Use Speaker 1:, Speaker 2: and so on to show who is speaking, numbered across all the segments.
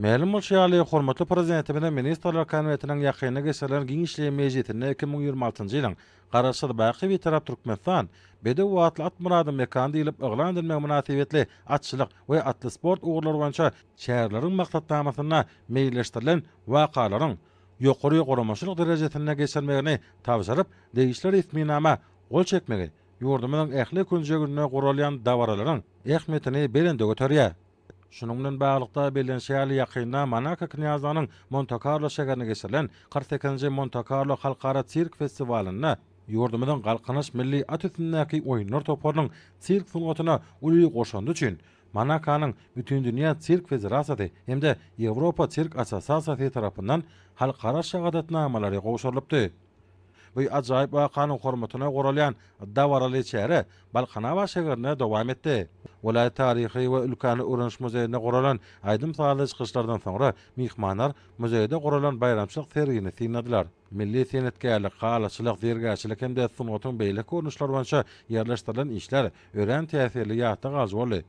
Speaker 1: Mälim bolşy ýaly, hormatly Prezidentimiziň Ministrler Kabinetiniň ýakynda geçirilen giňişleýin mejlisinde iki müň ýigrimi altynjy ýylyň Garaşsyz, baky Bitarap Türkmenistan, Bedew atly at myradyň mekany diýlip yglan edilmegi mynasybetli atçylyk we atly sport ugurlary boýunça çäreleriň maksatnamasynda meýilleşdirilen wakalaryň ýokary guramaçylyk derejesinde geçirilmegini tabşyryp, degişli resminama gol çekmegi ýurdumyzyň ähli künjeginde guralýan dabaralaryň ähmiýetini belende göterýär. Şunuň bilen baglylykda bellenişi ýaly, ýakynda Monako knýazlygynyň Monte-Karlo şägerinde geçirilen kyrk sekizinji Monte-Karlo halkara sirk festiwalynda ýurdumyzyň Galkynyş milli at üstündäki oýunlar toparynyň sirk sungatyna uly goşandy üçin Monakonyň Bütindünýä sirk federasiýasy hem-de Ýewropa sirk assosiasiýasy tarapyndan halkara şahadatnamalary gowşurylypdy. Bu ajaýyp wakanyň hormatyna guralýan dabaraly çäre Balkanabat şäherinde dowam etdi. Welaýat taryhy we ülkäni öwreniş muzeýinde guralan aýdym-sazly çykyşlardan soňra myhmanlar muzeýde guralan baýramçylyk sergini synladylar. Milli senetgärlik, halyçylyk, zergärçilik hem-de sungatyň beýleki görnüşleri boýunça ýerleşdirilen işler örän täsirli ýatda galyjy boldy.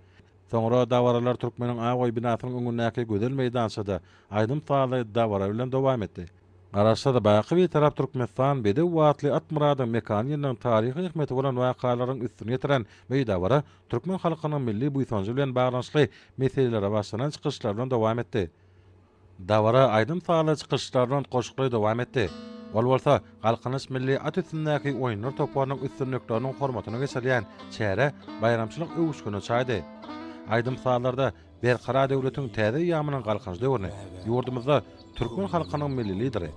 Speaker 1: Soňra dabaralar Türkmeniň Awaý binasynyň öňündäki gözel meýdançada aýdym-sazly dabara bilen dowam etdi. Garaşsyz, baky Bitarap Türkmenistan bedew atly Atmyradyň mekan ýyllygyň taryhy ähmiýeti bolan wakalaryň üstüni ýetiren bu dabara türkmen halkynyň milli buýsanjy bilen baglanyşykly meselelere başlanan çykyşlar bilen dowam etdi. Dabara aýdym-sazly çykyşlar bilen goşguli dowam etdi. Ol bolsa Galkynyş milli at üstündäki oýunlar toparynyň üstünlikleriniň hormatyna geçirilýän çärä baýramçylyk öwüşgini çaýdy. Aýdym-sazlarda Berkarar döwletiň täze eýýamynyň Galkynyş döwrüni ýurdumyzda türkmen halkynyň Milli Lideri,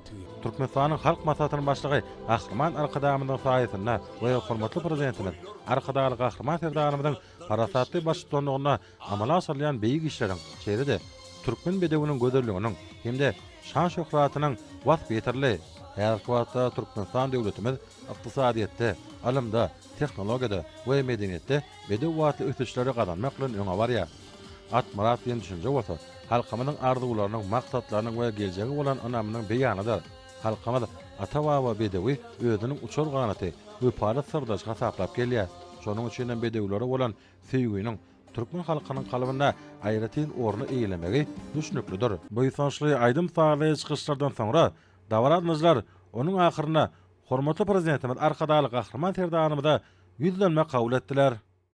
Speaker 1: Türkmenistanyň Halk Maslahatynyň Başlygy Gahryman Arkadagymyzyň saýasynda we hormatly Prezidentimiz Arkadagly Gahryman Serdarymyzyň parasatly baştutanlygynda amala aşyrylýan beýik işleriň, şeýle-de türkmen bedewiniň gözelliginiň hem-de şan-şöhratynyň waspy ýeterli. Häzirki wagtda Türkmenistan döwletimiz ykdysadyýetde, ylymda, tehnologiýada we medeniýetde bedew atly ösüşleri gazanmak bilen öňe barýar. At myrat diýen düşünje bolsa, halkymyzyň arzuwlarynyň, maksatlarynyň we geljege bolan ynamynyň beýanydyr. Halkymyz ata-baba bedewi özüniň uçar ganaty, wepaly syrdaşy hasaplap gelýär. Şonuň üçin hem bedewlere bolan söýginiň türkmen halkynyň kalbynda aýratyn orny eýelemegi düşnüklidir. Buýsançly aýdym-sazly çykyşlardan soňra, dabaralanjylar onuň ahyrynda Hormatly Prezidentimiz Arkadagly Gahryman Serdarymyza ýüzlenme kabul etdiler.